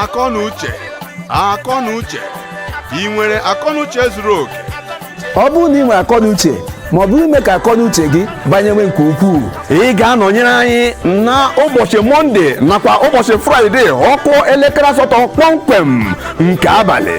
akọnuche akọnuche ị nwere akọnuche zuru oke ọ bụrụ na ị nwere akọnuche ma ọ bụ ime ka akọnuche gị banyewe nke ukwuu ị ga-anọnyere anyị na ụbọchị mọnde nakwa ụbọchị fraịde ọ kụọ elekere asatọ kpọmkwem nke abalị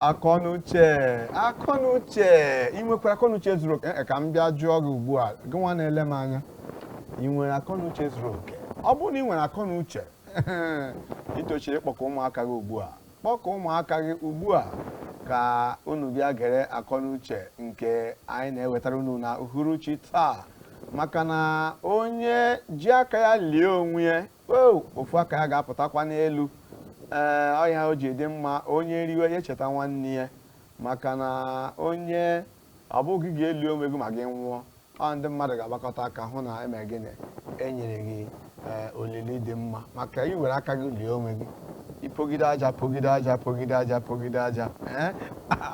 akọnuche akọnuche ị nwekwara akọnuche zuru oke Ee, ka m bịa jụọ gị ugbu a gị nwa na-ele m anya ị nwere akọnuche zuru oke ọ bụrụ na ị nwere akọnuche i tosiri ịkpọkọ ụmụaka gị ugbu a kpọkọ ụmụaka gị ugbu a ka unu bịa gere akọnuche nke anyị na-ewetara unu na uhuruchi taa maka na onye ji aka ya lie onwe ya o ofu aka ya ga-apụtakwa n'elu ee ọ ya o ji dị mma onye riwe ya echeta nwanne ya maka na onye ọ bụghị gị ga-eli onwe gị ma gị nwụọ ọ ndị mmadụ ga-agbakọta aka hụ na e me gịnị e nyere gị ee olili dị mma maka i were aka gị lie onwe gị i pogide aja pogide aja pogide aja pogide aja ee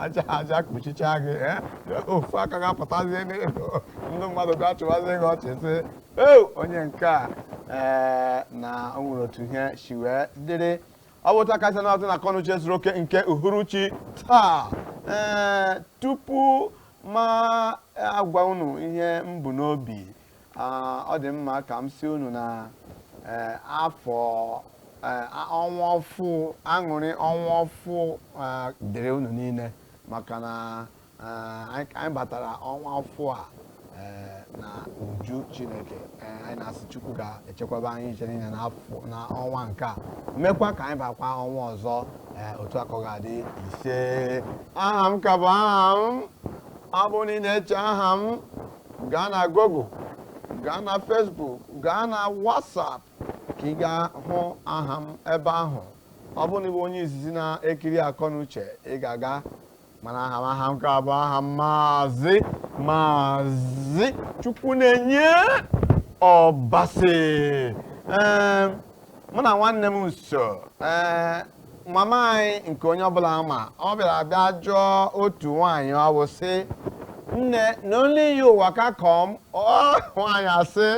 aja aja kpuchicha gị ee ofu aka ga-apụtazie n'elu ndị mmadụ ga-achịwazi gị ọchị sị o onye nke a ee na o nwere otu ihe si wee dịrị ọ bụ taa kasị na-atụ na akọnuche zuru oke nke uhuruchi taa ee tupu m agwa unu ihe m bu n'obi ah, ọ dị mma ka m sị unu na eh, afọ eh, a- ọnwa ọfụ aṅụrị ọnwa ọfụ ah, dịrị unu niile maka na anyị batara ọnwa ọfụ a eh, na uju chineke eh, anyị na-asị chukwu ga-echekwaba anyị iche niile na ọnwa nke a mekwa ka anyị bakwa ọnwa ọzọ eh, otu a ka ọ ga-adị ise aha m ka bụ aha m ọ bụrụ na ị na-eche aha m gaa na google gaa na facebook gaa na whatsapp ka ị gaa hụ aha m ebe ahụ ọ bụrụ na ị bụ onye izizi na-ekiri akọnuche ị ga-aga mana aha m aha m ka bụ aha m maazị maazị chukwunenye ọbasị ee mụ na nwanne m so ee mama anyị nke onye ọ bụla ma ọ bịara bịa jụọ otu nwaanyị ọ bụ sị nne na only you waka come ọ nwaanyị asị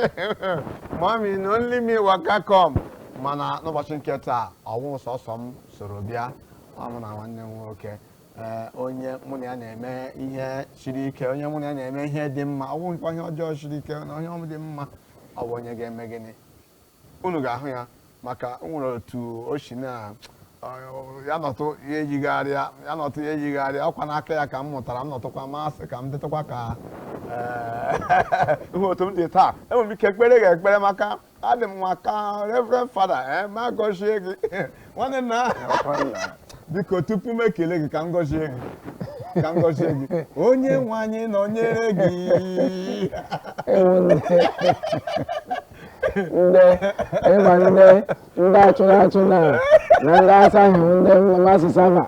mami na only me waka come mana n'ụbọchị nke taa ọ wụ sọsọ m soro bịa ọ mụ na nwanne m nwoke ee, onye mụ na ya na-eme ihe siri ike onye mụ na ya na-eme ihe dị mma ọ bụghị kwa ihe ọjọọ siri ike na ihe dị mma ọ bụ onye ga-eme gịnị unu ga-ahụ ya maka o nwere otu o si na ọ- ya nọtụ ya eyigharịa ya nọtụ ya eyigharịa ọkwa n'aka ya ka m mụtara m nọtụkwa m asị ka m dịtụkwa ka ee, ihe otu m dị taa enwere m ike kpere ga ekpere maka adị m nwa ka reverend father eh, m agọzie gị nwanne nna biko tupu m ekele gị ka m gọzie gị ka m gọzie gị onye nwe anyị nọnyere gị ndị ịma ndị ndị achụrụ achụ na na ndị asaghị ndị mass server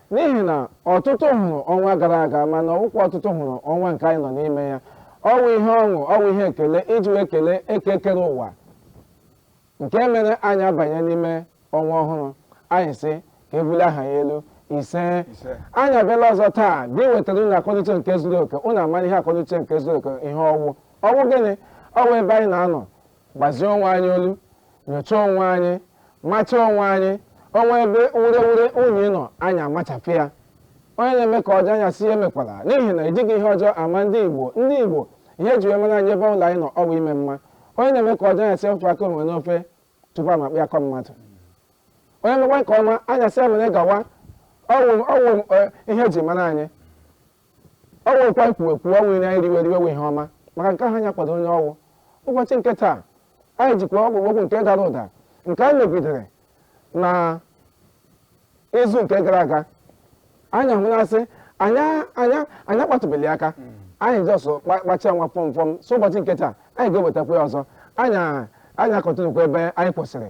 n'ihi na ọtụtụ hụrụ ọnwa gara aga mana ọwụkwa ọtụtụ hụrụ ọnwa nke anyị nọ n'ime ya ọwụ ihe ọṅụ ọwụ ihe ekele iji wee kelee eke kere ụwa nke mere anyị abanye n'ime ọnwa ọhụrụ anyị sị ka ebulie aha ya elu ise anyị abịala ọzọ taa iwetara unu akọnuche nke zuru oke unu amara ihe akọnuche nke zuru oke ihe ọwụ ọwụ gịnị ọwụ ebe anyị na-anọ gbazie onwe anyị olu nyochaa onwe anyị macha onwe anyị o nwee ebe urewure unyi nọ anyị amachapụ ya onye na-eme nke ọjọọ anyị asị ya emekwala n'ihi na ejighị ihe ọjọọ ama ndị igbo ndị igbo ihe eji wee mara anyị ebe ụlọ anyị nọ ọwụ ime mma onye na-eme nke ọjọọ anyị asị ya wepụ aka enwe n'ofe tupu amakpọ ya aka mmadụ onye mekwa nke ọma anyị asị ya mere gawa ọwụ ọwụ eh, ihe eji mara anyị Ọ wụrụkwa ekwuwe kwuwe ọwụ iri anyị riwe riwe wụ ihe ọma maka nke ahụ anyị akwado onye ọwụ. Ụbọchị nke taa, anyị jikwa okwu nke dara ụda nke anyị megidere na izu nke gara aga anyị ahụ na-asị anyị akpatụbeli ya aka anyị just kpachia nwa fọm fọm so ụbọchị nke taa anyị ga-ewetakwa ya ọzọ anyị a- anyị a-continuekwa ebe anyị kwụsịrị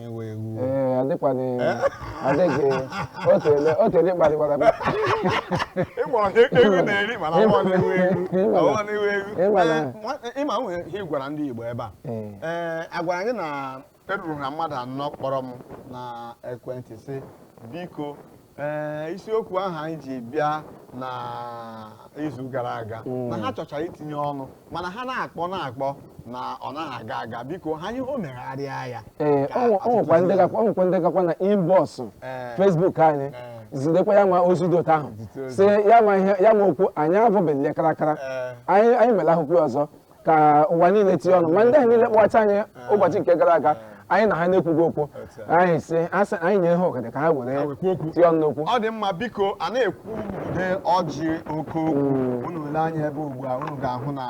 iwe ewu ee adịkwana adịghị o tele o tele kparịkwara m ịgba ọhịa ewu na-eri mana ọ bụghị iwe ewu Ịma na- ọ bụghị iwe ewu ịma na- Ee, nwa- ịma nwere ihe ị gwara ndị Igbo ebe a Ee. ee agwara anyị na eruru na mmadụ anọ kpọrọ m na ekwentị sị biko ee isiokwu ahụ anyị ji bịa na izu gara aga na ha chọchara itinye ọnụ mana ha na-akpọ na-akpọ na ọ naghị aga aga biko ha ihe o megharịa ya ee Ka ọ ọtụtụ nwekwa ndị si- gakwa ọ nwekwa ndị gakwa na inbox Ee. facebook anyị Ee. zitekwa ya ma ozi dị otu ahụ Zite ozi. sị ya ma ihe ya ma okwu anyị abọbeghị ya karakara Ee. anyị anyị mere akwụkwọ ọzọ ka ụwa niile tinye ọnụ ma ndị ahụ niile kpọcha anyị ụbọchị nke gara aga anyị na ha na-ekwughị okwu anyị sị asị anyị nye ha ohere ka ha were tinye ọnụ n'okwu ọ dị mma biko a na-ekwu ude ọjị oke okwu mm. unu lee anya ebe ugbu a unu ga-ahụ na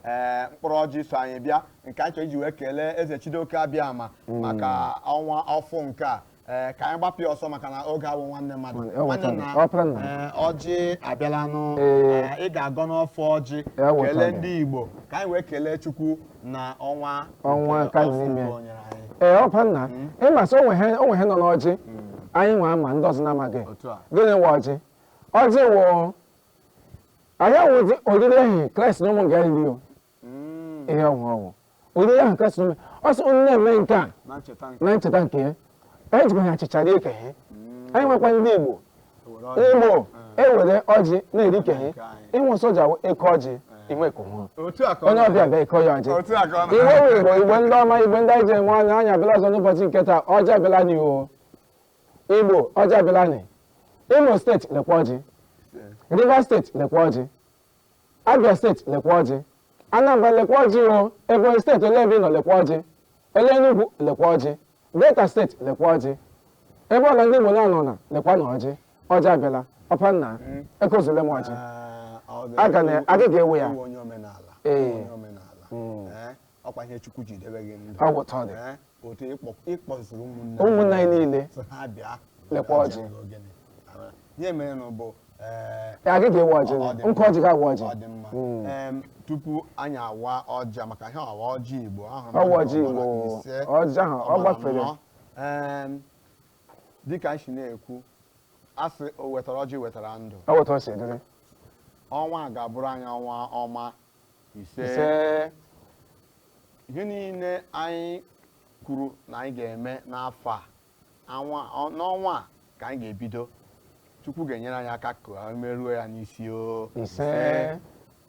eh, mkpụrụ ọjị so anyị bịa nke anyị chọrọ iji wee kelee eze chidoke abịama mm. maka ọnwa ọfụụ nke a ee ka anyị gbapụ ya ọsọ maka na oge awụ nwanne mmadụ Ọ nwanne wụtara, Ọparanna. ee, ọjị abịala nụ Ee. Ee, ị ga-agọnụ ọfọ ọjị Ya wụtara. kelee ndị igbo ka anyị wee kelee chukwu na ọnwa Ọnwa nke ka afọ n'ime. nke o nyere anyị ee Ọparanna ị ma sị o nwe ihe nọ n'ọjị anyị nwe ama ndị ọzọ na-amaghị Otu a. gịnị wụ ọjị ọjị wụ anyị awụzi oriri ehi kraịst na ụmụ ya riri o hmm. ihe ọ wụ ọ wụ oriri ahụ Kraịst mere ọ sị unu na-eme nke a na ncheta nke ya anyị jikwa ha achịcha rie nke ha hmm. anyị nwekwa ndị Igbo Igbo ewere hmm. ọjị na-eri nke ha ịnwụ soja eke ọjị i nwee ka ọ wụ onye ọbịa bịa ịkọ ya ọjị iwe wụ igbo igbo ndị ọma igbo ndị anyị ji enwe anya anyị abịala ọzọ n'ụbọchị nke taa ọjị abịala nị o igbo ọjị abịala nị imo steeti lekwa ọjị rivers steeti lekwa ọjị Abia steeti lekwa ọjị, Anambra lekwa ọjị o, Ebonyi steeti olee ebe ị nọ lekwa ọjị, olee Enugwu lekwa ọjị, Delta steeti lekwa ọjị, ebe ọwụla ndị Igbo na-anọ na lekwanụ ọjị, ọjị abịala, Ọparanna ekozule m ọjị. Aga na- aga ga-ewe ya. Onye omenala. Ee. Onye omenala. Mm. Eh? ọ kwa ihe chukwu ji debe gị ndụ Ọ wụ otu ọ dị. Ee, otu ịkpọ- ịkpọzuru ụmụnne Ụmụnna anyị niile. sị ha bịa Lekwa ọjị. Abịa n'ogene. Ara. ihe mere na bụ ee, Ya gị ga-ewe ọjị ọ dị gị. Nkụ mma. ọjị ga-awa ọjị. ọ dị mma Mm. Em, tupu anyị awa ọjị a, maka ihe a wụ ọjị igbo ahụ Ọ wụ ọjị Igbo. Ọjị ahụ, ọ gbafere. dịka anyị si na-ekwu a sị o wetara ọjị wetara ndụ Ọ wụ otu o si dịrị. ọnwa a ga-abụrụ anyị ọnwa ọma ise ise ihe niile anyị kwuru na anyị ga-eme n'afọ a anwa ọ- n'ọnwa a ka anyị ga-ebido chukwu ga-enyere anyị aka ka anyị meruo ya n'isi o ise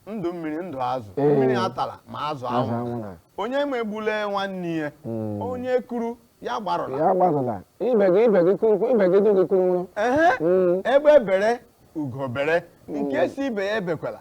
ndụ mmiri ndụ azụ Ee. mmiri atala ma azụ azụ anwụ anwụla onye megbule nwanne ya Mm. onye kuru ya agbarụla ya agbarụla ibe gị ibe gị kuru ibe gị dụ gị kuru ṅụrụ ehe Mm. egbe bere ugo bere nke sị ibe ya ebekwala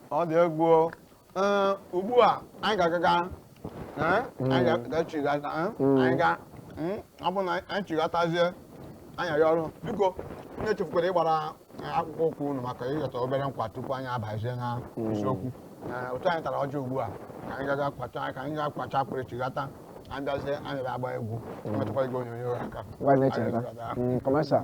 ọ dị egwu o. Ee, ugbu a anyị ga-agaga ee, anyị ga- ga-echigata ee, anyị ga mm, ọ bụ na anyị chigatazie anya ya ọrụ biko onye echefukwala ịgbara eh, akpụkpọ ụkwụ unu maka ịghọta obere nkwa tupu anyị abazie na isiokwu Eh, otu anyị tara ọjị a ugbu a ka anyị gaga kwacha ka anyị ga kwacha akpịrị chigata anyị bịazie anyị bịa agba egwu emetụkwa igwe onyonyo aka Gwa anyị na-echeta. Anyị ga-aga. Mm, Commercial.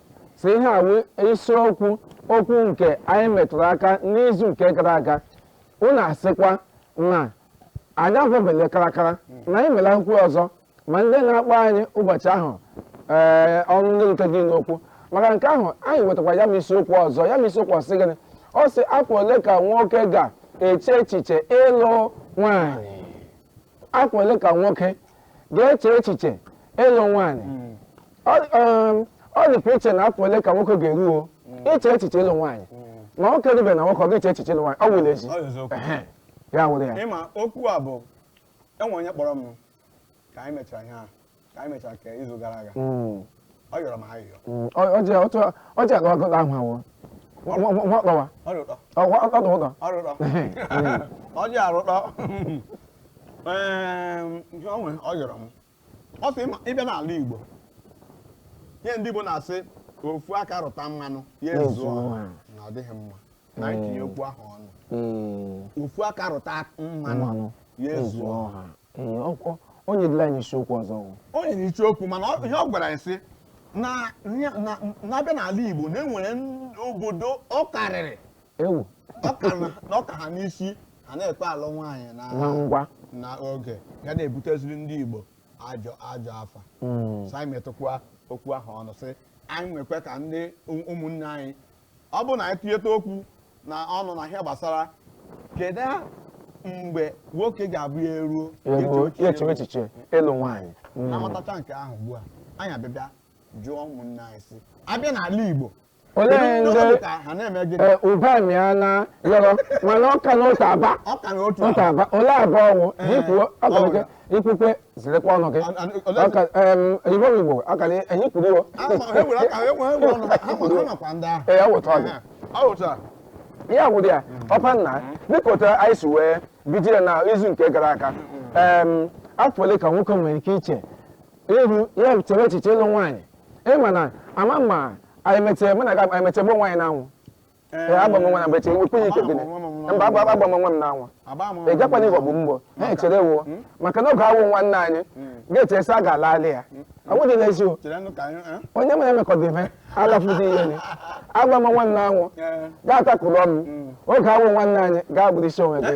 si ihe a wụ isiokwu okwu nke anyị metụrụ aka n'izu nke gara aga unu asịkwa na anyị avọbele karakara na anyị mere akwụkwọ ọzọ ma ndị na-akpọ anyị ụbọchị ahụ ee ọnụ eruteghị n'okwu maka nke ahụ anyị wetakwara ya ma isiokwu ọzọ ya ma isiokwu ọ sị gịnị ọ sị afọ ole ka nwoke ga-eche echiche ịlụ nwaanyị afọ ole ka nwoke ga-eche echiche ịlụ nwaanyị ọ dịkwa iche na afọ ole ka nwoke ga-eruo iche echiche ịlụ nwaanyị ma nwoke rube na nwoke ọ ga-eche echiche ịlụ nwaanyị ọ wụrụ ezi ya wụrụ ya ị ma okwu a bụ o nwe onye kpọrọ m ka anyị mechara ihe ahụ ka anyị mechara ka izu gara aga mm. ọ yọrọ m ayịyọ mm. ọ ji agụ agụta ahụ awụ nwakpọwa ọdụdọ ọ ji arụtọ onwe ọ yọrọ m ọ sị ị bịa n'ala Igbo ihe ndị Igbo na-asị ofu aka rụta mmanụ ya ezuo na ọ dịghị mma na anyị tinye okwu ahụ ọnụ Mm. ofu aka rụta mmanụ Mmanụ. ya ezuo Ezuo ọha Mm, ọ- ọ- o nyedịla anyị isiokwu ọzọ o. o nyere isiokwu mana ọ- ihe ọ gwara anyị sị na na- na- na a bịa n'ala Igbo na e nwere n- obodo ọ karịrị ewu ọ ka na- na ọ ka ha n'isi ha na-ekwe alụ nwaanyị na na ngwa na oge ya na-ebuteziri ndị Igbo ajọ ajọ afa Mm. so anyị metụkwa okwu ahụ ọnụ sị anyị nwekwa ka ndị ụm- ụmụnne anyị ọ bụrụ na anyị tụnyeta okwu na ọnụ na ihe gbasara kedu mgbe nwoke ga-abụ ya eruo ya echewe echiche ịlụ nwaanyị hmm. na a matacha nke ahụ ugbu a anyị abịa bịa jụọ ụmụnne anyị sị a bịa n'ala Igbo olee ndị ụbọchị ya na yọrọ mana ọka na otu aba otu aba olee abụọ ọnwụ ikwukwe zirekwa ọnụ gị igbo igbo akara enyi kwuru iwo ee awụta ọdị ihe agwụdị ya ọpa nna dịka otu anyị si wee bido ya na izu nke gara aga afọ ole ka nwoke nwere ike iche iru ya chere echiche ịlụ nwaanyị ị ma na ama ma anyị mechee mụ na ga anyị mechee gbuo nwaanyị n'anwụ Ee, agba m nwa na mgbe chere ekwenye ike gịnị mba agba agba m nwa m n'anwụ ị gakwana ịghọgbu mbọ ha echere wo maka na oge awụ nwanne anyị ga-echere sị a ga-ala ala ya ọ bụghị n'ezi o onye mere emekọdị ihe alafụzi ihe ni agba m nwa m n'anwụ ga-atakụrụ ọnụ oge awụ nwanne anyị ga-abụrụ isi onwe gị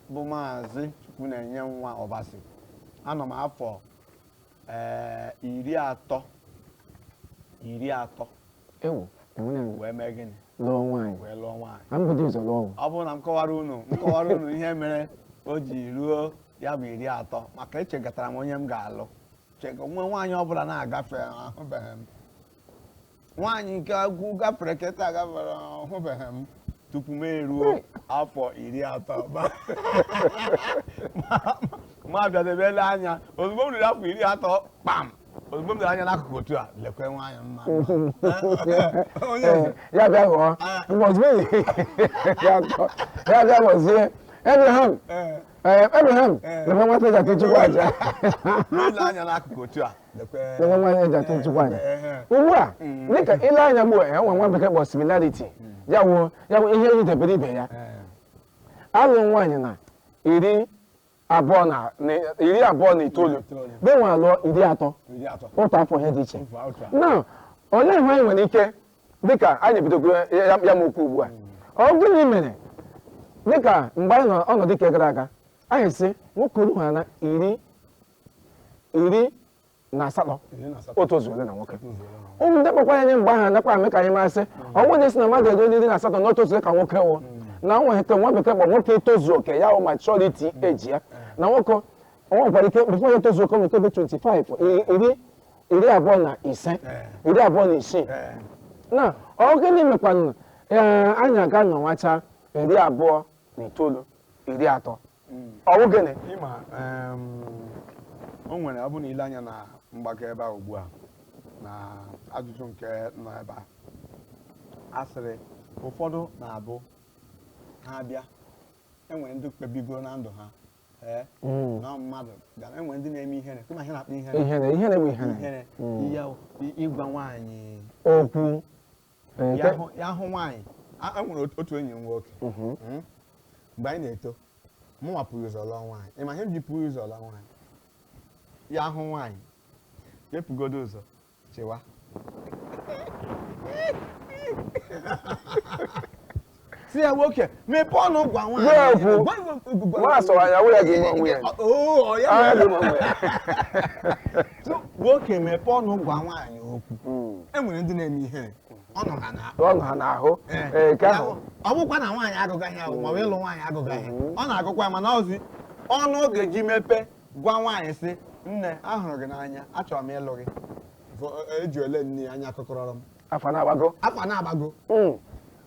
bụ maazị Chukwunenye nwa Ọbasi anọ m afọ ee iri atọ iri atọ ewu enwere m wee mee gịnị lụọ nwaanyị wee lụọ nwaanyị ka m bụdị ụzọ lụọ ụwa ọ bụrụ na m kọwara unu m kọwara unu ihe mere o ji ruo ya bụ iri atọ maka echegatara m onye m ga-alụ chega nwe nwaanyị ọbụla na-agafe ahụbeghị m nwaanyị nke agwụ gafere keta gafere ahụbeghị m tupu m eruo afọ iri atọ Ma- ma- ma bịadebe ele anya ozugbo m ruru afọ iri atọ kpam ozugbo m lere anya n'akụkụ otu a lekwa nwaanyị mma onye eze ya bịa ghọọ ngọzi ya atọ ya bịa ghọzie Abraham ee ee Abraham lekwa nwata eji achụ Chukwu aja ile anya n'akụkụ otu a nwa nwaanyị eji achụ Chukwu aja ugbu a dịka ile anya ugbu a ya nwa nwa bekee kpọ similarity ya wụ ya wụ ihe yitebere ibe ya alụ nwaanyị na iri abụọ na iri abụọ na itoolu be nwa alụọ iri atọ otu afọ ihe dị iche na olee ihe anyị nwere ike dịka anyị bidogoro ya m okwu ugbu a ọ gịnị mere dịka mgbe anyị nọ ọnọdụ nke gara aga anyị sị nwoke ruhara iri iri na asatọ o tozuole na nwoke ụmụ ndị kpọkwara anyị mgbe ahụ nakwa eme ka anyị ma sị ọ bụrụ na a sị na mmadụ eruo iri na asatọ na o tozuo ka nwoke wụ na o nwere nke nwa bekee kpọ nwoke itozu oke ya wụ maturity age ya na nwoke o nwekwara ike before ya etozuo oke o nwere ike bụ 25 iri iri abụọ na ise iri abụọ na isii na ọ gịnị mekwanụ ee anyị aga nọwacha iri abụọ na itoolu iri atọ ọ wụ gịnị ị ma em, o nwere ọ bụ na ile anya na mgbakọ ebe a ugbu a na ajụjụ nke nọ ebe a a sịrị ụfọdụ na-abụ ha abịa enwere ndị kpebigoro na ndụ ha ee Mm. na mmadụ ga enwere ndị na-eme ihere kama ihe na-akpọ ihere ihere ihere bụ ihere ihere ihe ahụ, i- ịgwa nwaanyị okwu Ee, ya nke- hụ- ya hụ nwaanyị a e nwere otu- otu enyi m nwoke Mhm. Mm. mgbe anyị na-eto mụnwa buru ụzọ lụọ nwaanyị ị ma ihe m ji buru ụzọ lụọ nwaanyị ya hụ nwaanyị ya ebugodu ụzọ chewa sị ya nwoke mepee ọnụ gwa nwaanyị Ya ekwu. Gwa- gwa- gwa- gwa- Nwa asọwa ya, wụ ya ga-eme onwe ya. Ọ- oo, ọ ya Anya mere. gị ma onwe ya. So, nwoke mepee ọnụ gwa nwaanyị okwu e nwere ndị na-eme ihere ọ nọ ha n'ahụ Ọ nọ ha n'ahụ Ee. ee nke ahụ ọ bụkwa na nwaanyị agụgaghị ya maọbụ ịlụ nwaanyị agụgaghị ọ na-agụkwa ya mana ọzi ọnụ ọ ga-eji mepe gwa nwaanyị sị nne ahụrụ gị n'anya achọrọ m ịlụ gị Fọ- eji ole nne ya anya kụkọrọrọ m afọ na-agbago afọ na-agbago hmm.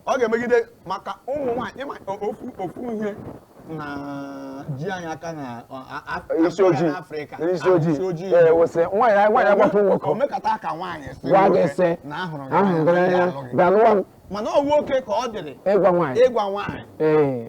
ọ ga-emegide maka ụmụ nwaanyị ị ma ofu ofu ihe na-eji anyị aka na isi ojii n'Afrịka isi ojii ee wụ sị nwaanyị nwaanyị agbapụ nwoke o mekata ka nwaanyị si gwa gị sị na ahụrụ gị n'anya bịa lụwa m mana ọ nwoke ka ọ dịrị ịgwa nwaanyị ịgwa nwaanyị ee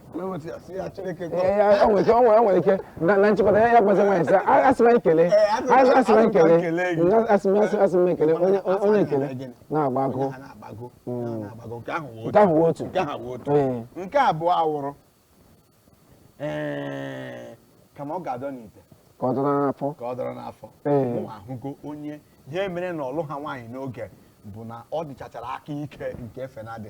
nwere ike na nchịkọta ya ya gbazi nwaanyị sị asị m ekele onye ekele na-agba agụ nke ahụ wụ otu nke abụọ awụrụ kama ọ ga-adọ n'ite ka ọ dọrọ n'afọ ka ọ dọrọ n'afọ ahụgo onye ihe mere na ọ lụha nwaanyị n'oge bụ na ọ dịchachara aka ike nke efe na-adị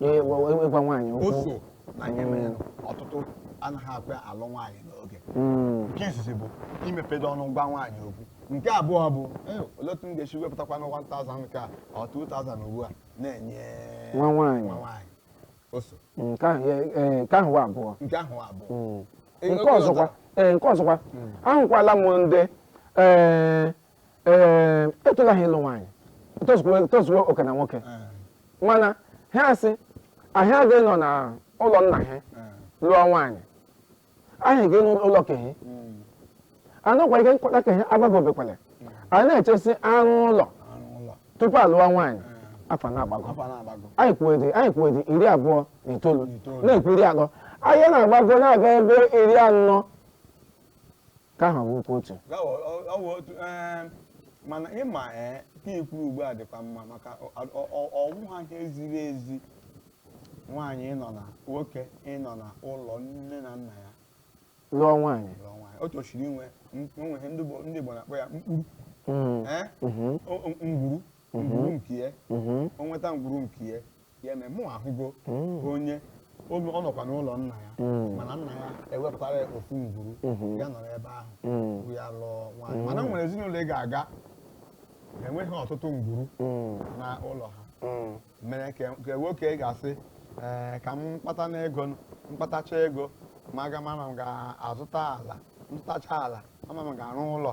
Ee, wa- wa- ịgwa nwaanyị o okwu so na ihe mere ọtụtụ anaghị akpa alụ nwaanyị n'oge Mm, nke izizi bụ imepedo ọnụ gwa nwaanyị okwu nke abụọ bụ "Eh, olee otu m ga-esi wepụtakwanụ 1000 ka ọ 2000 ugbu a na-enye nwa nwaanyị nwa nwaanyị o so nke ahụ ya- ee, nke ahụ wụ abụọ nke ahụ abụọ Mm. Ee, nke oge ọzọkwa ee nke ọzọkwa ahụkwala m ndị ee ee etola ha ịlụ nwaanyị tozuo oke na nwoke mana ha asị ha agaghị anọ na ụlọ nna ha lụọ nwaanyị ha ga-enwe ụlọ ke he anọkwa ike nkwata ke he agbagobekwale a na-eche sị arụọ ụlọ tupu alụọ nwaanyị afọ na-agbago anyị kwuwedị anyị kwuwedị iri abụọ na itoolu na-ekwu iri atọ anyị na-agbago na-aga ebe iri anọ nke ahụ wụrụkwa otu gawa ọ- ọ wụ otu ee, mana ịma ee ke i kwuru ugbu a dịkwa mma maka ọ- ọ- ọ- ọ wụha ihe ziri ezi nwaanyị ịnọ na nwoke ịnọ na ụlọ nne na nna ya lụọ nwaanyị lụọ nwaanyị o tosiri inwe m- o nwere ihe ndị Igbo- ndị Igbo na-akpọ ya mkpuru Mm, ee mhm, o- o- ngwuru ngwuru nke ya mhm. o nweta ngwuru nke ya ya eme mụ ahụgo hmm. onye ọ nọkwa n'ụlọ nna ya hmm. mana nna ya ewepụtara ya ofu ngwuru hmm. ya nọrọ ebe ahụ ngwuru ya lụọ nwaanyị mana nwere ezinụlọ ị ga-aga enweghị ọtụtụ ngwuru na ụlọ ha mere ka e, nwoke e ga-asị ee ka m kpatanụ ego m kpatacha ego m ga-ama ma m ga-azụta ala zụtacha ala m ama ma m ga-arụ ụlọ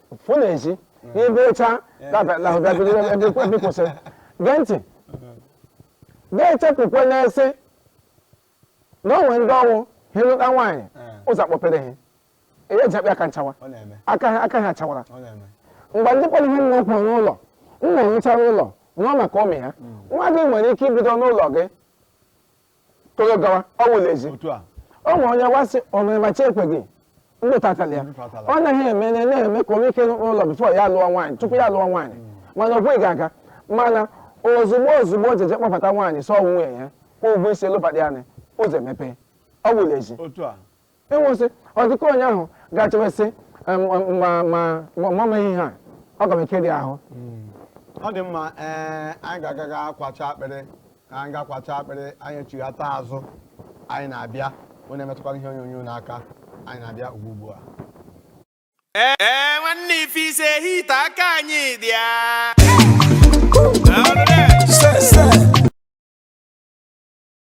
pụ n'ezi n'ebe ịcha ebe kwụsị gee ntị ga-echepụkwa na a sị na o nwere ndị ọ wụ ha alụta nwaanyị ụzọ akpọpere ha ihe e ji akpa aka achawa ọ na-eme aka ha aka ha chawara ọ na-eme mgbe ndị kpọrọ ihe nwa kwụrụ n'ụlọ nna rụchara ụlọ nụọ maka ụmụ ya nwa gị nwere ike ibido n'ụlọ gị toro gawa ọ wụla ezi otu a o nwere onye wa sị omere ma chi ekweghị ndị ụta atala ya Ndị ụta atala. ọ naghị eme na na-eme ka o nwee ike ịrụ ụlọ before ya lụọ nwaanyị tupu ya lụọ nwaanyị mana o kweghị aga mana ozugbo ozugbo o jiji kpọbata nwaanyị sị ọ nwunye ya kwụọ ụgwọ isi lụbata ya ụzọ emepee ọ wụla ezi otu a enwesị ọ dị ka onye ahụ ga-achọwesị mama ihe ha ọ ga m eke dị ahụ hmm. ọ dị mma ee anyị ga-aga ga kwacha akpịrị ka anyị ga kwacha akpịrị anyị echighata azụ anyị na-abịa onye emetụkwala ihe onyonyo n'aka anyị na-abịa ugbu ugbu a ee e, nwanne ife ise hita aka anyị dị ya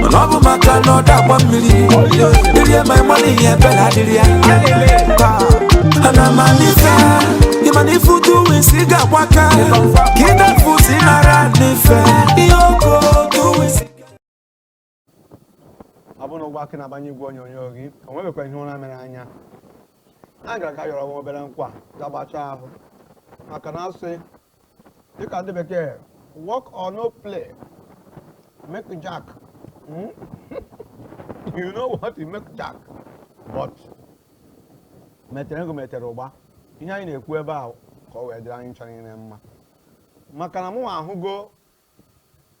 mana ọ bụ maka na ọ dakwa mmiri irie ma ị ma na ihe ebela adịrị ya ana m alife ị ma na ife utu wisi ga-agbaka ka ịdafu si nara n'ife ihe oko otu wisi ọ bụrụ na ugbu a ka ị na-agbanye igwe onyonyo gị o nwebekwa ihe ụra mere anya a gara ka yọrọ nwa obere nkwa ga gbachaa ahụ maka na a sị dịka ndị bekee work or no play make jack hmm? you know what it make jack but metere ego metere ụgba ihe anyị na-ekwu ebe a ka ọ wee dịrị anyị ncha niile mma maka na mụ ahụgo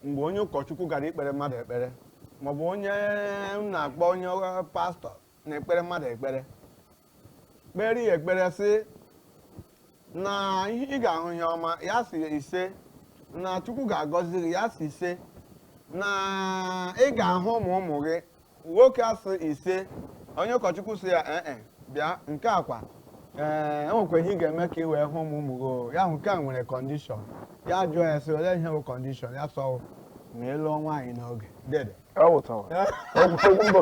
mgbe onye ụkọchukwu gara ikpere mmadụ ekpere maọbụ onye m na-akpọ onye pastọ na-ekpere mmadụ ekpere kpere ya ekpere sị na ị ga-ahụ ihe ọma ya sị ise na chukwu ga-agọzi gị ya sị ise na ị ga-ahụ ụmụ ụmụ gị nwoke asị ise onye ụkọchukwu sị ya ee bịa nke a kwa ee e nwekwa ihe ị ga-eme ka ị wee hụ ụmụ ụmụ gị o. ya bụ nke a nwere kọndishọn ya jụọ ya sị olee ihe bụ kọndishọn ya sị ọ ma ị lụọ nwaanyị n'oge dede Ọ bụ tọwa. Okwu okwu mbụ.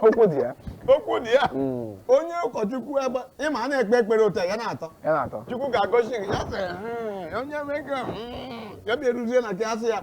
Okwu dị ya. okwu dị ya Mm. onye ụkọchukwu ebe ị ma a na-ekpe ekpere otu a ya na-atọ Ya na-atọ. chukwu ga-agọzi gị ya sị "Hmm, onye mee ka hmm." ya bịa eruzie na nke asị ya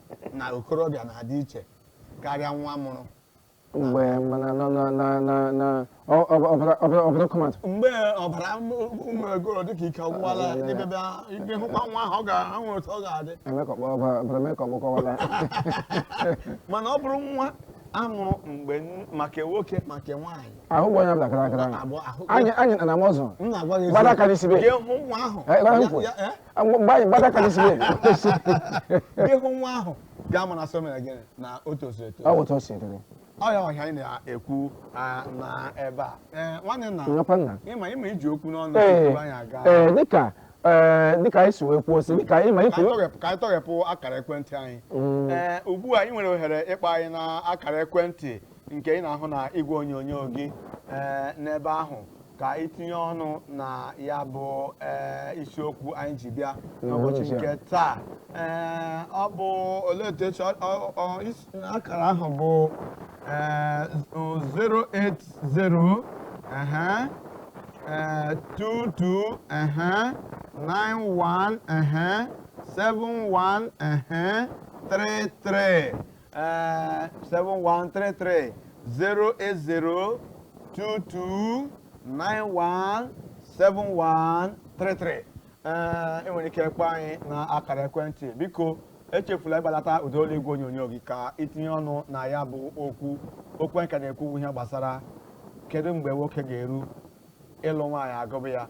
na okorobịa na-adị iche karịa nwa a mụrụ mgbe mana na na na na na ọ- ọ- ọbara ọbara ọbara kọmatụ mgbe ọbara ụmụ egoro dịka ike ọgwụwala Ah, ya, ya, ya. dịbebe ibe hụkwa nwa ahụ ị ga-ahụ otu ọ ga-adị emekọkpọ ọbara ọbara mekọkpọ kọwara mana ọ bụrụ nwa a mụrụ mgbe n- maka nwoke maka nwaanyị ahụ bụ onye ọbụla kara akara Abụ- ahụ- anyị anyị na na mọzụ m na-agwa gị Gbada aka n'isi be. gị hụ nwa ahụ Eh, gbada ya- nkwe. ya- eh? gị hụ nwa ahụ ga-ama na so mere gịnị na o tozuru etozu ọ wụ otu o si dịrị ọ ya wụ ihe anyị na-ekwu ah, na ebe a Eh, nwanne nna nyekwa nna ị ma ị ma i ji okwu n'ọnụ Ee, tupu anyị aga ee, dịka ee, dịka anyị si wee kwuo si dịka ịma ka anyị ife tọghepụ- ka anyị tọghepụ akara ekwentị anyị Mm. ee ugbu a ị nwere ohere ịkpọ anyị na akara ekwentị nke ị na-ahụ na igwe onyonyo gị ee n'ebe ahụ ka i tinye ọnụ na ya bụ ee isiokwu anyị ji bịa n'ụbọchị N'ụbọchị a. nke taa ee ọ bụ olee otu esi ọ- ọ- ọ- is- akara ahụ bụ ee 080 ehe eh, two two uh-huh, nine one uh-huh, seven one uh-huh, three three. Eh, 7133 080 22 91 7133 ee ị nwere ike kpọọ anyị na akara ekwentị biko echefula ịgbalata ụda olu igwe onyonyo gị ka i tinye ọnụ na ya bụ okwu okwu anyị ka na-ekwu ihe gbasara kedu mgbe nwoke ga-eru ịlụ nwaanyị agụba ya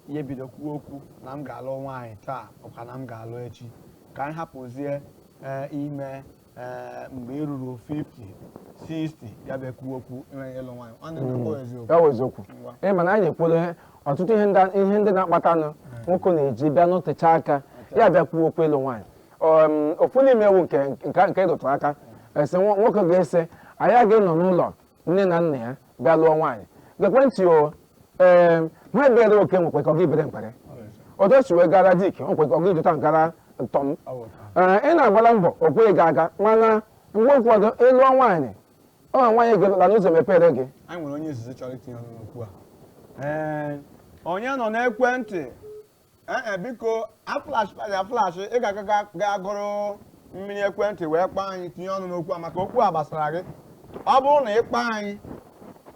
ya ebido kwuo okwu na m ga-alụ nwaanyị taa ọkwa na m ga-alụ echi ka anyị hapụzie ee, ime ee, mgbe ị ruru 50 60 ya bụ ekwu okwu enweghị ịlụ nwaanyị ọ na ọ eziokwu ya wụ eziokwu Ngwa. ị ma na anyị ekwuola ihe ọtụtụ ihe ndị ihe ndị na-akpatanụ nwoke na-eji bịa nọtecha aka ya bịa kwuo okwu ịlụ nwaanyị Um, ofu n'ime ya wụ nke nke nke ị rụtụ aka sị nwo- nwoke ga-asị na ya agaghị anọ n'ụlọ nne na nna ya bịa lụọ nwaanyị gekwe ntị o ee ha bere oke nwekwe ike ọ gaghị ebere mkpere otu o si wee gara Dick nwekwe ike ọ gaghị eji otu a gara Tom ee ị na-agbala mbọ o kweghị gị aga mana mgbe ụfọdụ ị lụọ nwaanyị ọ wụ nwaanyị ị lụla ụzọ emepere gị anyị nwere onye izizi chọrọ itinye ọnụ n'okwu a ee onye nọ n'ekwentị ee e, biko aflash anyị aflash ị ga-aga gaa goro mmiri ekwentị wee kpọọ anyị tinye ọnụ n'okwu a maka okwu a gbasara gị ọ bụrụ na ị kpọọ anyị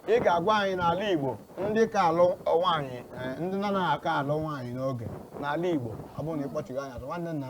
ị ga-agwa anyị n'ala Igbo ndị ka alụ nwaanyị e, ndị na-anaghị aka alụ nwaanyị n'oge n'ala Igbo ọ bụrụ na ị kpọchighị anyị azụ nwanne nna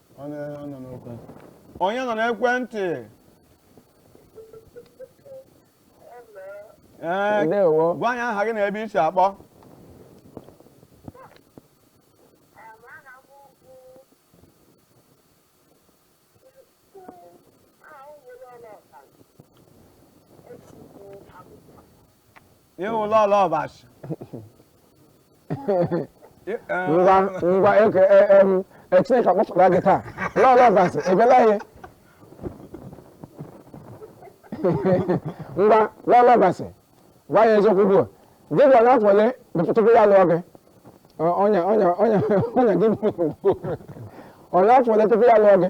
Onye nọ n'ekwe? Onye nọ n'ekwentị? Ee, Ndewo. gwa anyị aha gị na ebe i si akpọ. ị wụ lọlọ ọbasi ngwa ngwa eke e, e, em, e, chineke akpọpụta gị taa lọlọ ọbasi ebela ihe ngwa lọlọ ọbasi gwa anyị eziokwu ugbu a di gị ọ nọ n'afọ ole tupu ya lụọ gị Ọ- ọnya ọnya ọnya ọnya gị bụ ọ nọ n'afọ ole tupu ya lụọ gị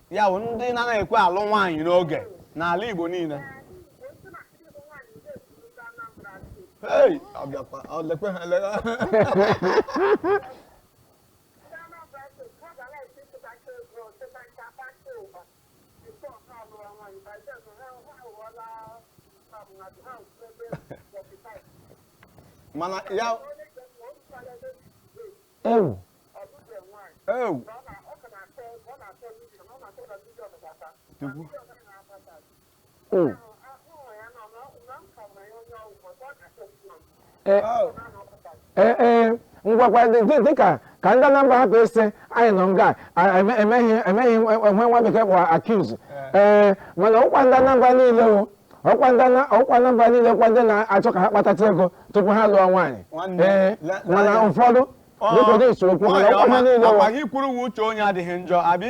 ya bụ ndị na-anaghị ekwe alụ nwaanyị n'oge n'ala Igbo niile Hey, ọ bịakwa, ọ lekwe ha ele- mana ya ewu ewu Chukwu. ewu Eh, Au. eh, eh, ngwakwa dị- dị- dịka ka ndị Anambra hapụ ịsị anyị nọ nga a- eme- emeghị emeghị ihe nwa bekee kpọrọ accuse Eh. ee mana ọkwa ndị Anambra niile o ọkwa ndị na- ọkwa Anambra niile kwa ndị na-achọ ka ha kpatacha ego tupu ha lụọ nwaanyị Nwanne, ee le- mana le- ụfọdụ dịka dị isi okwu mana ọkwa ha niile ọkwa wụ- gị kwuru ọwụ uche onye adịghị njọ abi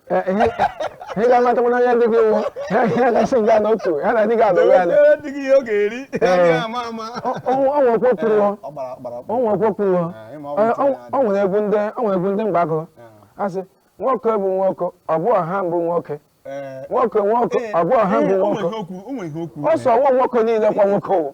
ị ga-amata mana onye dị gị iwu ya gasị nga n'otu ya na dị gị adọwe ya ọnwa okwu kwuruo ọnwa okwu kwuruo ọ nwere egwu ndị ọ nwere egwu ndị mgbe a gụrụ asị nwoke bụ nwoke ọ bụ ọha mbụ nwoke nwoke nwoke ọ bụ ọha mbụ nwoke ọ sị ọwụ nwoke niile kwa nwoke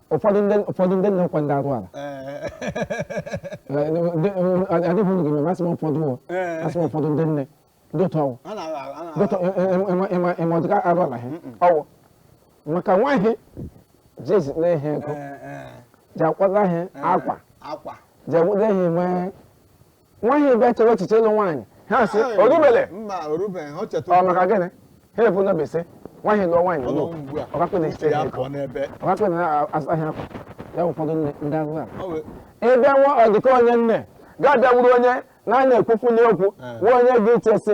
ụfọdụ ndị ụfọdụ ndị nne ọkwa ndị arụrụala adịghị unu gị masị m ụfọdụ ụwa masị m ụfọdụ ndị nne ndị otu ọwụ dịtụ ịma ọdịka arụrụala ha ọwụ maka nwaanyị jizi na ihe ego ji akwado ihe akwa ji enwede ihe nwee nwaanyị bịa chewe echiche ịlụ nwaanyị ha sị orubele mba orubele ha cheta ọ maka gịnị ha ebu n'obi sị nwaanyị lụọ nwaanyị lụọ ọkakpịna ise ya ego ọkakpịna na-azụ ahịa akwa ya ụfọdụ ndị ahụ a ịbịa nwa ọdịka onye nne ga-abịawuru onye na-ana ekwufu n'okwu nwa onye gị ichesi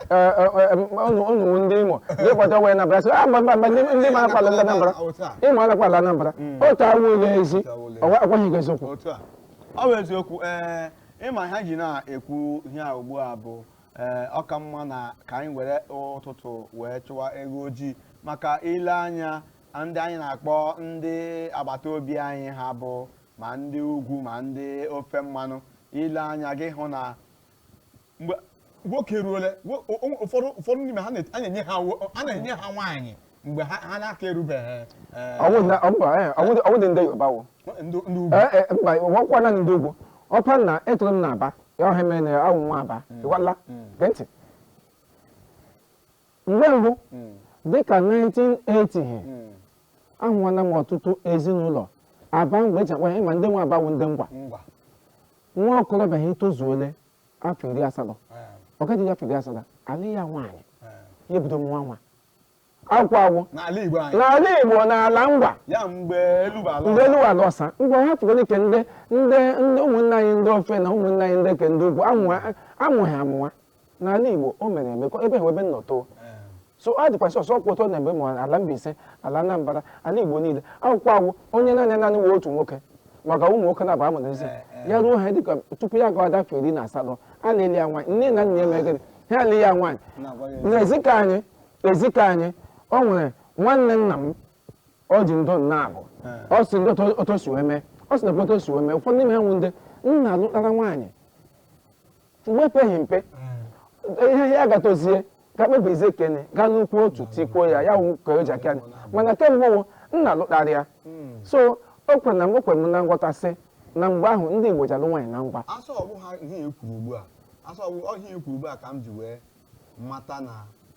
unu ndị Imo dịkwata wee Anambra sị a mba mba ndị Imo akwala ndị Anambra Imo anakwala Anambra otu ọwụla ezi ọkwaghị gị eziokwu ọ bụ eziokwu ee ịma ha ji na-ekwu ihe a ugbu a bụ ee ọ ka mma na ka anyị were ụtụtụ wee chụwa ewu ojii maka i lee anya ndị anyị na-akpọ ndị agbata obi anyị ha bụ ma ndị ugwu ma ndị ofe mmanụ i lee anya gị ahụ na mgbe nwoke ruole ụfọdụ ụfọdụ n'ime ha na-enye ha a na-enye ha nwaanyị mgbe ha na-aka erubeghị ọ wụdị ndị Yoruba ma ọ wụkwanụ ndị ugwu ọkwa na etoro m n'Aba ya ọha mere na awụ m nwa Aba mm. ịgwala mm. gee ntị mgbe mbụ mm. dịka 1980 ahụwala m ọtụtụ ezinụlọ Aba mgbe e ji akpa ya ma ndị nwa Aba wụ ndị Ngwa nwa okorobịa ya etozuole afọ iri asatọ ọ ga-adị afọ iri asatọ alụ ya nwaanyị ya ebido mụwa nwa akwụ akwụ n'ala Igbo anyị n'ala Igbo n'ala Ngwa ya mgbe elu bụ ala mgbe elu ala ọsa ngwa ha tụgoro ike ndị ndị ndị ụmụnne anyị ndị ofe na ụmụnne anyị ndị ke ndị ugwu amụghị amụwa N'ala Igbo, o mere eme ka ebe ha ebe m nọ too. So ọ dịkwa sọsọ ọkwa otu ọ na mgbe ma ala Mbaise, ala Anambra, ala Igbo niile. Akwụkwọ awụ onye naanị naanị nwere otu nwoke maka ụmụ nwoke na-abụ amụrụ eze ya ruo ha dịka tupu ya gawa afọ iri na asatọ a na-alụ ya nwaanyị nne na nna ya megịrị ha alụ ya nwaanyị na ezi ke anyị ezi ke anyị o nwere nwanne nna m ọ dị ndụ na-abụ ọ sị ndị otu o si wee mee ọ sị na otu o si wee mee ụfọdụ n'ime ha wụ ndị nna alụtara nwaanyị mgbe ekpeghị mpe ihe ya ga-etozie ga-ekpebizi ke ọ ga-alụkwu otu tikwuo ya ya wụ ke o ji aka anyị mana ke mbụ wụ nna lụtara ya so o kwere na mgbe o kwere m na-aghọta sị na mgbe ahụ ndị Igbo ji alụ nwaanyị na ngwa so ọ bụ ha ihe e kwuru ugbu a so ọ bụ ihe e kwuru ugbu a ka m ji wee mata na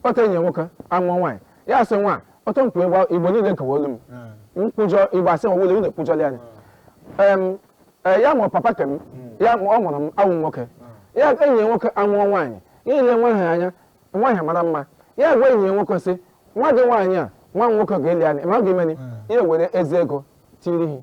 kpọta enyi ya nwoke amụọ nwaanyị ya asị nwa ọtọ nkwụ ịgba igbo niile kewa olu m nkwụjọ igbo asị nwa wụlọ unu ekwujọla ya Em, eh, ya mụrụ papa ke m ya mụ- ọ mụrụ m awụ nwoke ya enyi ya nwoke amụọ nwaanyị ya ele nwa ahụ anya nwa ahụ mara mma ya gwa enyi ya nwoke sị nwa gị nwaanyị a nwa m nwoke ga-alụnị ma ọ ga-emeni ya were ezi ego tiri ihe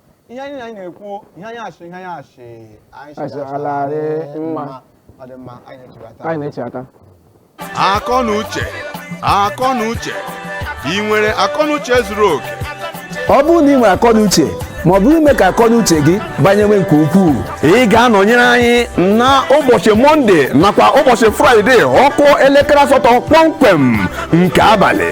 ihe anyị na anyị na-ekwu ihe anyị asị ihe anyị asị anyị Asị ala dị mma. ọ dị mma anyị na-echebata anyị na-echeta akọ na uche akọ na uche ị nwere akọ na uche zuru oke ọ bụrụ na ị nwere akọnuche ma ọ bụ ime ka akọnuche gị banyewe nke ukwuu ị ga-anọnyere anyị na ụbọchị mọnde nakwa ụbọchị fraịde ọ kụọ elekere asatọ kpọmkwem nke abalị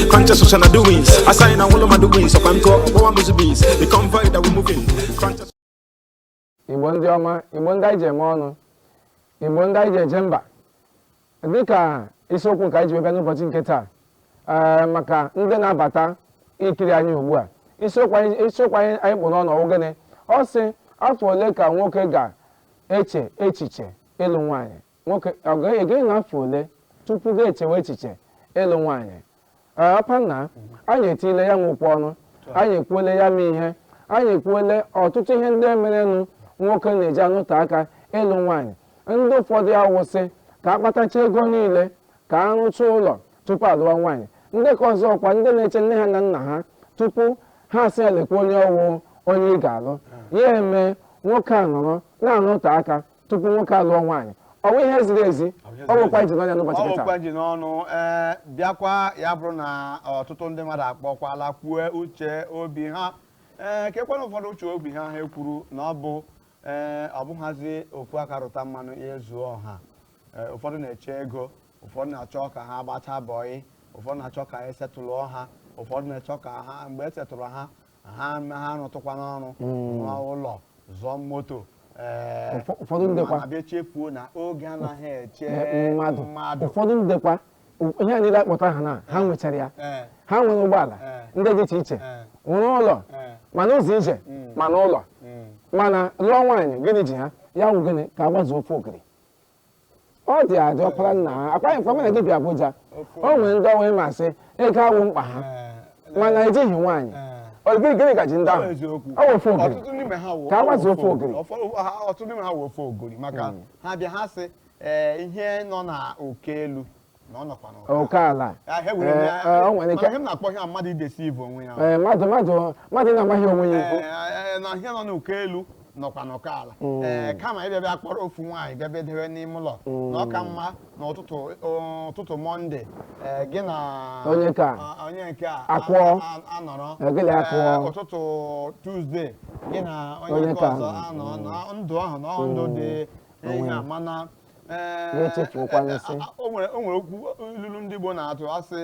Crunches social na doings. I sign and all of my doings. So I'm called Owa Muzubis. The convoy that we're moving. Crunches. Igbo ndị ọma Igbo ndị anyị ji eme ọnụ Igbo ndị anyị ji eje mba dịka isiokwu nke anyị ji wee bịa n'ụbọchị nke taa ee maka ndị na-abata ikiri anyị ugbu a isiokwu anyị isiokwu anyị anyị kpụ n'ọnụ ọ wụ gịnị ọ sị afọ ole ka nwoke ga-eche echiche ịlụ nwaanyị nwoke ọ ga-ege na afọ ole tupu ya echewe echiche ịlụ nwaanyị ee ọpa nna anyị etile ya nwụkwa ọnụ anyị ekwuole ya ma ihe anyị ekwuole ọtụtụ ihe ndị merenụ nwoke na-eji anọte aka ịlụ nwaanyị ndị ụfọdụ awụ sị ka a kpatachaa ego niile ka a rụchaa ụlọ tupu alụwa nwaanyị ndị ka ọzọ ọkwa ndị na-eche nne ha na nna ha tupu ha asị ya lekwa onye ọ wụ onye ị ga-alụ ya eme nwoke a nọrọ na-anọte aka tupu nwoke alụọ nwaanyị ọ bụ ihe ziri ezi ọ bụkwa iji n'ọnụ n'ụbọchị nke taa ọ wụkwa ji n'ọnụ ee bịakwa ya bụrụ na ọtụtụ ndị mmadụ akpọkwala kwue uche obi ha ee kekwanụ ụfọdụ uche obi ha ha ekwuru na ọ bụ ee ọ bụghazi ofu aka rụta mmanụ ezuo ọha ee ụfọdụ na-eche ego ụfọdụ na-achọ ka ha gbachaa bọyị ụfọdụ na-achọ ka e settle-ụọ ha ụfọdụ na-achọ ka ha mgbe e settle-rụ ha ha ha rụtụkwanụ ọrụ rụọ ụlọ zụọ moto ee, Ụfọ- ụfọdụ ndị kwa- mana bịa chefuo na oge anaghị eche mmadụ mmadụ ụfọdụ ndị kwa ụ- ihe a niile a kpọta aha na ha nwechara ya Ee, ha nwere ụgbọala Ee. ndị dị iche iche ee, nwere ụlọ ee, mana ụzọ ije Mm. mana ụlọ mm. mana lụọ nwaanyị gịnị ji ha ya wụ gịnị ka a gbazuo ofe ogiri ọ dị adị ọkpara nna ha akwaghị mkpa mana gị bịa Abuja o nwere ndị ọ wụ ị ma sị ego awụ mkpa ha mana ejighị nwaanyị ọ gịnị gịnị ka ji ndị ahụ ọ wụ ofe ogiri ọtụtụ n'ime ha wụ- Ka a gbazuo ofe ogiri. Ọfọ- ha- ọtụtụ n'ime ha wụ ofe ogiri maka ha bịa ha sị ee ihe nọ na oke elu na ọ nọkwa n'oke ala Ya, ha were Eh, ya- eh, o nwere ike- mana ihe m na-akpọ ihe a mmadụ i-deceive onwe ya Ee, mmadụ mmadụ mmadụ na-amaghị onwe ya ikwu Ee, na ihe nọ n'oke elu nọkwa n'oke ala Ee, kama ị bịa bịa kpọrọ ofu nwaanyị bịa bịa debe n'ime ụlọ na ọ ka mma na ụtụtụ ụtụtụ Monday ee, gị na Onye nke a. a- onye nke a Akụọ. a- a- anọrọ Ee, gị na akụọ. Ee, ụtụtụ Tuesday gị na onye Onye nke nke a. ọzọ anọ na ndụ ahụ na ndụ dị ihe a mana Ee, Wee chefuokwa ee, asị. a- a- o nwere o nwere okwu ilulu ndị Igbo na-atụ asị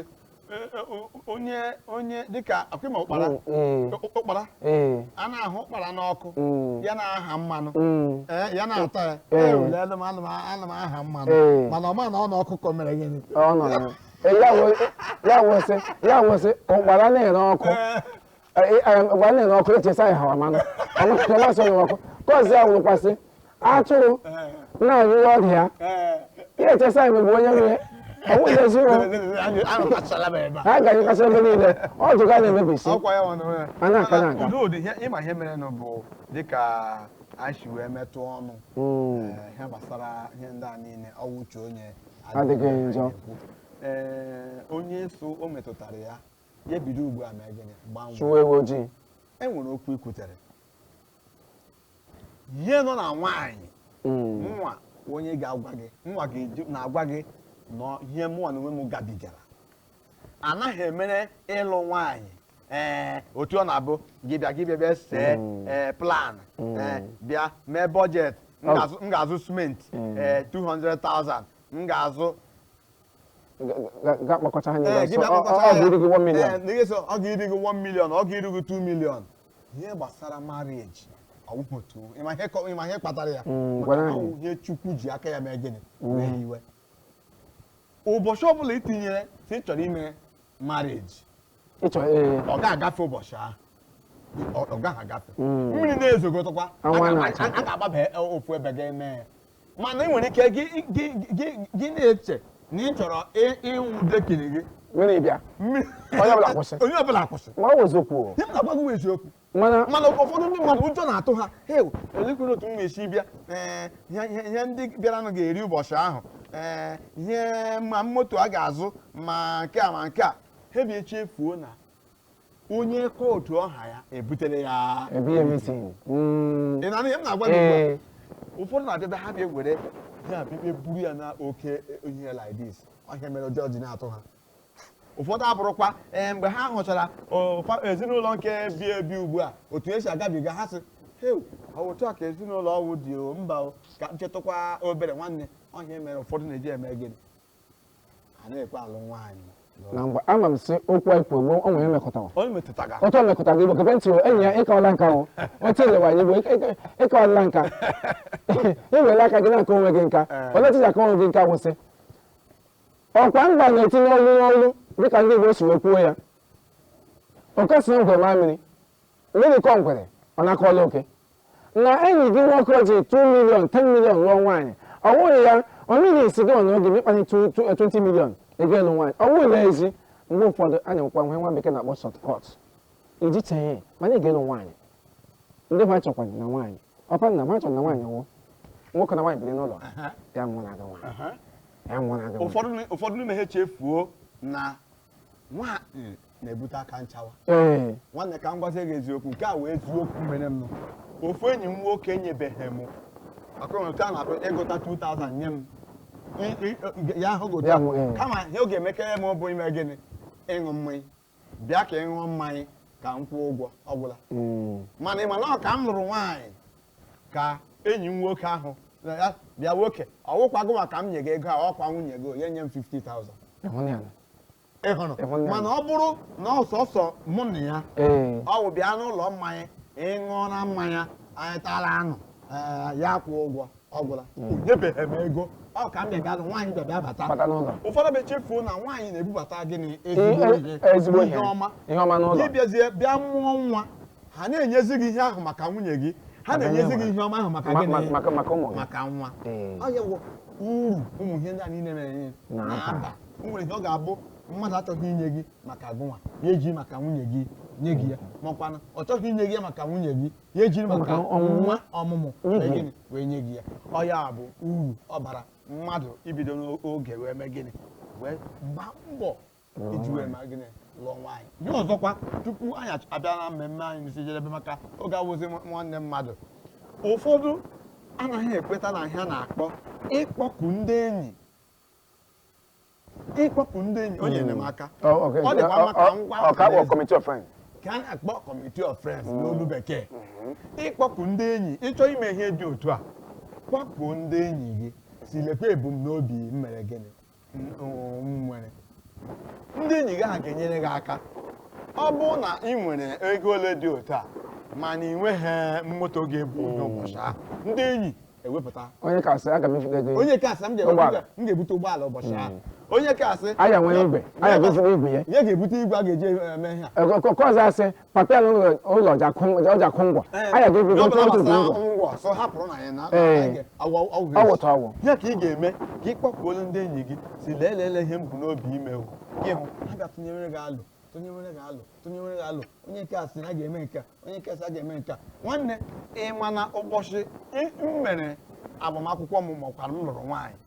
e, e, o- onye onye dịka akụ ma ụkpara Mm, mm. ụ- ụkpara ee a na-ahụ ụkpara n'ọkụ Mm. ya na-aha mmanụ mm. Ee, ya na-ata ya Ee. "Eh, ule, ana m- ana m- ana m aha mmanụ Ee. mana ọ ma na ọ n'ọkụ ka ọ mere gịnị ọ nọ na Ee, ya wee- ya wụ sị ya wụ sị ụkpara na-ere ọkụ Ee, ụkpara na-ere ọkụ eche sị ya hawa mmanụ ọ ma sị onye ọkụ kọzi ya wụkwa sị atụrụ na-anyụrụ ọdụ ya ya eche sị ya mgbe onye nwe ọnwụghị eziwo ha ga-anyụkasị ebe niile ọdụ ya na-emebisi a na-aka na aga ịma ihe merenụ bụ dịka anyị si wee metụ ọnụ hmm. eh, ihe gbasara ihe ndị a niile ọ wụ uche onye adịghị njọ ee eh, onye so o metụtara ya ya bido ugbu a mee gịnị gbanwee chụwa ewu ojii e nwere okwu i kwutere ihe nọ na nwaanyị Mm. nwa onye ga-agwa gị nwa gị ju- na-agwa gị na ihe mụnwa na onwe m gabigara anaghị emere ịlụ nwaanyị ee otu ọ na-abụ gị bịa gị bịa bịa see Mm. ee plan Mm. ee bịa mee budget m Ọ- ga-azụ- m ga-azụ cement Mm. ee 200,000 m ga-azụ gị gbakọta ha niile ọsọ ọ ga-eri gị 1 million ọ ga-eri gị 1 million ọ ga-eri gị 2 million ihe gbasara marriage awụghị otu a ị ma ihe kpatara ya mm, ihe Chukwu ji aka ya mee gịnị mm. wee hiwe ụbọchị ọbụla i tinyere sị ị chọrọ ime marriage ịchọ ee ọ ga-agafe ụbọchị ahụ ọ ọ gaghị agafe Mm. mmiri na-ezogodukwa a Anwụ a ga- na-acha. a ga-agbaba e- ofu ebe ga-eme ya mana ị nwere ike gị gị- gị- gị na-eche na ị chọrọ ị- ịwụ decking gị mmiri bịa mmiri Onye ọbụla kwụsị. onye ọbụla kwụsị ma ọ bụ eziokwu o. ihe m na-agwa gị bụ eziokwu mana mana ụfọdụ ndị mmadụ ụjọ na-atụ ha heu elekwere otu m ga-esi bịa ee ihe ihe- ihe ndị bịaranụ ga-eri ụbọchị ahụ ee ihe ma moto a ga-azụ ma nke a ma nke a ha bịa chefuo na onye kwuo otu ọ ha ya ebutere ya Ebi everything. Mm. ị na-anụ ihe m na-agwa gị ugbu a? Ee. ụfọdụ na-abịaba ha bịa were ya bịa buru ya na oke ihe like this ọ ihe a mere ụjọ ji na-atụ ha ụfọdụ abụrụkwa ee mgbe ha hụchara o, fa- ezinụlọ nke bi ebi ugbu a otu e si agabiga ha sị "Heu, ọ bụ otu a ka ezinụlọ ahụ dị o mba o ka m chetụkwa obere nwanne ọ ihe a mere ụfọdụ na-eji eme gịnị anaghị ekwe alụ nwaanyị na mgbe ama m si okwu anyị kwuo mgbe o nwere emekọtawa onye metụtaga otu o mekọtara gị bụ gebe ntị o enyi a ị kaala nka o otu e lewa anya bụ ị kaala nka i were aka gị na-aka onwe gị nka olee otu ị ga-aka onwe gị nka kwụsị ọkwa mba na-etinye olu n'olu dịka ndị Igbo si wee kwuo ya oke soro ngwere maa mmiri mmiri kọọ ngwere ọ na-akọla oke na enyi gị nwoke ji 2 million 10 million lụọ nwaanyị ọ bụrụ ya onye na-esi gị ọnụ oge ma ị kpanye 20 million gaa lụọ nwaanyị ọ bụrụla asị mgbe ụfọdụ a na-enwekwa ihe nwa bekee na-akpọ shortcut i ji chee mana ị ga-alụ nwaanyị ndị nwa chọkwa na nwaanyị papa nna m achọrọ na nwaanyị wụ nwoke na nwaanyị biri n'ụlọ ya wụrụ na aga nwaanyị ya wụrụ na aga nwaanyị ụfọdụ ni- ụfọdụ n'ime ha echefuo na nwaanyị na-ebute aka nchawa ee nwanne ka m gwazie gị eziokwu nke a wụ eziokwu mere m ofu enyi m nwoke nyebeghị m maka onwe otu a na-akpọ ịgụta 2000 nye m I- i- ya ahụ Ya gụta nwụ, eh. kama ihe ọ ga-emekere m bụ ime gịnị ịṅụ mmanya bịa ka ị ṅụọ mmanya ka m kwụọ ụgwọ ọ gwụla mm. mana ị ma na ọ ka m lụrụ nwaanyị ka enyi m nwoke ahụ na ya bịa nwoke ọ wụkwa gụnwa ka m nye gị ego a ọkwa nwunye gị onye nye m 50,000 ịhụnanya ị hụrụ Ịhụnanya. mana ọ bụrụ na ọ sọsọ mụ na ya ee ọ wụ bịa n'ụlọ mmanya ị ṅụọra mmanya anyị tara anụ ee, ya kwụọ ụgwọ ọ gwụla o nyebeghị m ego ọ ka m bịa bịa nwaanyị bịa bịa bata Bata n'ụlọ. ụfọdụ abịa chefuo na nwaanyị na-ebubata gịnị ezigbo Ihe- ihe ezigbo ihe ihe ọma ihe ọma n'ụlọ ị bịazie bịa mụọ nwa ha na-enyezi gị ihe ahụ maka nwunye gị ha Maka na-enyezi nwa. gị ihe ọma ahụ maka Ma- gịnị ma- maka- maka ụmụ gị. maka nwa Ee. ọ ya bụ uru ụmụ ihe ndị a niile na-enye Na-aba. na-aba o nwere ihe ọ ga-abụ mmadụ achọghị inye gị maka gụnwa ya eji maka nwunye gị nye gị ya makwana ọ chọghị inye gị ya maka nwunye gị ya ejiri maka nwa ọmụmụ gịnị wee nye gị ya ọ ya bụ uru ọ bara mmadụ ibido n'oge wee mee gịnị wee gbaa mbọ iji wee mee gịnị lụọ nwaanyị ihe ọzọkwa tupu anyị abịa na mmemme anyị n'isi njedebe maka oge awụzi nwanne mmadụ ụfọdụ anaghị ekweta na ihe a na-akpọ ịkpọku ndị enyi ịkpọku ndị enyi onye hmm. enyemaka oh, ọ dịkwa maka oh, oh, ngwa ka a na-akpọ committee of friends ka a na-akpọ committee of friends hmm. n'olu bekee hmm. ịkpọku ndị enyi ị chọọ ime ihe dị otu a kpọkuo ndị enyi gị sị lekwa ebumnobi m mere gịnị nwere ndị enyi gị ha ga-enyere gị aka ọ bụrụ na ị nwere ego ole dị otu a mana ị nweghị moto ga-ebu ụbọchị ahụ ndị enyi ewepụta onye nke a asị aga m efu ego onye nke a asị m ga-ebute ụgbọala ụbọchị hmm. ahụ onye nke a asị na ya nwere igwe na ya ga-ebute igwe ya ya ga-ebute igwe a ga-eji eme ihe ọkụkọ ọzọ asị papel ụlọ ọja kwụ ngwa na ya ga-ebute otu bụ ngwa ọsọ hapụrụ na ya na ọwụta ọwụ ya ka ị ga-eme ka ị kpọkuolu ndị enyi gị sị lee leele ihe m bu n'obi ime gị hụ ha ga-atụnyere gị alo tụnyewere gị alo tụnyewere gị alo onye nke a sị na a ga-eme nke a onye nke a sị a ga-eme nke a nwanne ị ma na ụbọchị ị- m mere agbamakwụkwọ m makwara m lụrụ nwaanyị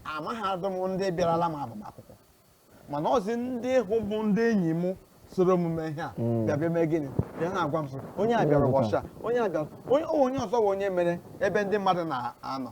amaghịdị m ndị bịarala m agbamakwụkwọ mana ọzi ndị ahụ bụ ndị enyi m soro m mee ihe a bịa bịa mee gịnị bịa na-agwa m sị onye a bịara ụbọchị a onye a bịara onye o onye ọzọ bụ onye mere ebe ndị mmadụ na-anọ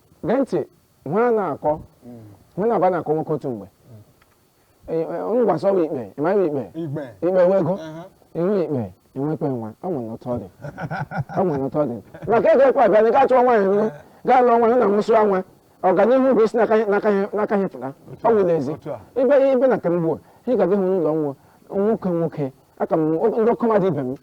gee ntị ihe a na-akọ hụ na-aba na-akọ nwoke otu mgbe ngwasọ m ikpe ịmaghị ikpe Igbe. ikpe nwe ego Aha. ihu ikpe i nwekwee nwa ọ nwere otu ọ dị ọ nwere otu ọ dị maka ego ekwe abịa na ị ga-achọ nwaanyị nwa gaa lụọ nwaanyị na nwụsịa nwa ọganihu bụ isi n'aka ya- n'aka ya- n'aka ya pụta ọ nwụ n'ezi otu a. ibe ibe na kemgbe ị ga-adị hụ n'ụlọ nwa nwoke nwoke aka m ndị ọkọmadụ ibe m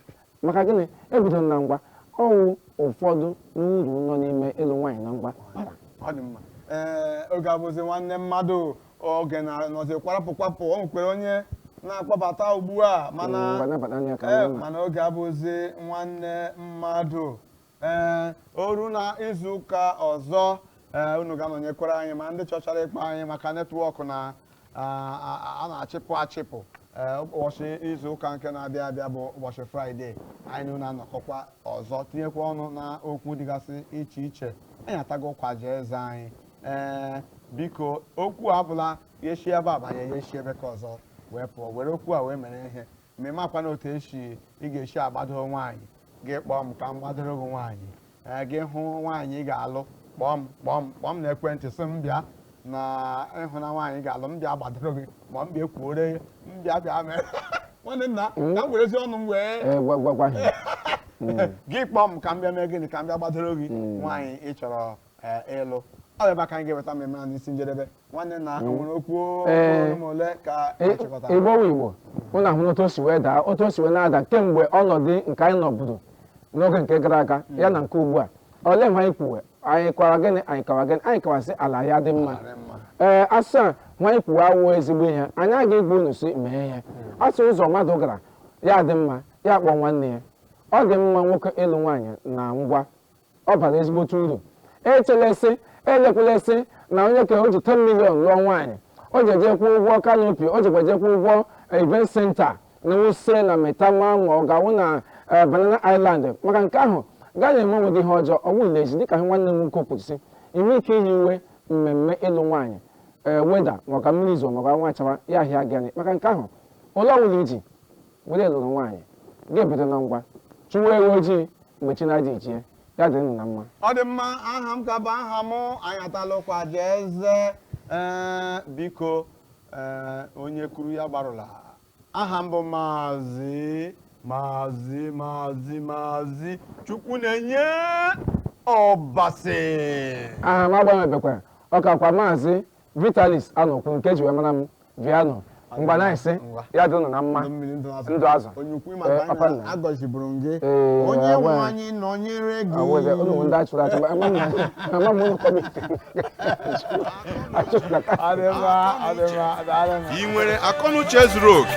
Maka gịnị? E bidoro na ngwa. Ọ wụ ụfọdụ n'uru nọ n'ime ịlụ nwaanyị na ngwa bara. Ọ dị mma. Ee, oge abụzi nwanne mmadụ oge na-anọzi kwarapụ kwapụ o nwekwuru onye na-akpọbata ugbu a mana oge abụzi nwanne mmadụ ee o ruo na izu ụka ọzọ ee unu ga-anọnyekwara anyị ma ndị chọchara ịkpọ anyị maka netwọk na a a- a na-achịpụ achịpụ ee ụbọchị izu ụka nke na-abịa abịa bụ ụbọchị fraịde anyị na unu anọkọkwa ọzọ tinyekwa ọnụ na okwu dịgasị iche iche anyị atago ụkwa jaa eze anyị ee biko okwu a abụla ya shi ebe a banye ya shi ebe nke ọzọ wee pụọ were okwu a wee mere ihe ma ị makwanụ otu esi ị ga-esi agbado nwaanyị gị kpọọ m ka m gbadoro gị nwaanyị ee gị hụ nwaanyị ị ga-alụ kpọọ m kpọọ m kpọọ m na ekwentị sị m bịa na ị hụna nwaanyị ị ga-alụ m bịa gbadoro gị ma m bịa ekwuore gị m bịa bịa mee nwanne nna ka m werezi ọnụ m wee Ee, gwa gwa gwa ha. gị kpọọ m ka m bịa mee gịnị ka m bịa gbadoro gị nwaanyị ị chọrọ ee, ịlụ ọ bụ ebe aka anyị ga-eweta mmemme na n'isi njedebe nwanne nna o nwere okwu Ee. ọnụ ma ole ka E- achịkọtara igbo wụ igbo unu ahụ otu o si wee daa otu o si wee na-ada kemgbe ọnọdụ nke anyị nọburu n'oge nke gara aga ya na nke ugbu a olee mgbe anyị kwuwe anyị kọwa gịnị anyị kọwa gịnị anyị kọwasị ala ya dị mma Ala mma. ee asị a nwa anyị kwuwe awụ ezigbo ihe anyị aga ịgwa unu sị mee ihe a sị ụzọ mmadụ gara ya dị mma ya kpọọ nwanne ya ọ dị mma nwoke ịlụ nwaanyị na ngwa ọ bara ezigbote uru echela sị elekwala sị na onye ka o ji 10 million lụọ nwaanyị o jeje kwụọ ụgwọ kanopi o jekwaje kwụọ ụgwọ event center na wuse na maitama ma ọ ga-awụ na eh, banana island maka nke ahụ gị emee onwe gị ihe ọjọọ ọ bụghị lezi dịka nwanne m nwoke kwuru sị i nwee ike yiwe mmemme ịlụ nwaanyị ee weda maka mmiri izo maka anwụ chawa ya ahịa gịnị maka nke ahụ ole ọbụla i ji were lụrụ nwaanyị gị ebido na ngwa chụwa ewu ojii mgbe chi na-adị ejie ya dịrị nụ na mma ọ dị mma aha m ka bụ aha m anyị atala ụkwa jaa eze ee biko ee onye kwuru ya gbarụla aha m bụ maazị maazị maazị maazị chukwunenye ọbasị aha m agbanwebekwa ọ kakwa maazị Vitalis Anokwu nke e ji wee mara m Viano ngwanụ ise ya dịnụ na mma ndụ azụ papa nna agọziburu gị onye nwe anyị nọnyere gị awụghị ụlọ ndị achụrụ achụ ma ama ama m ụlọ kọmiti achụrụ na ị nwere akọnuche zuru oke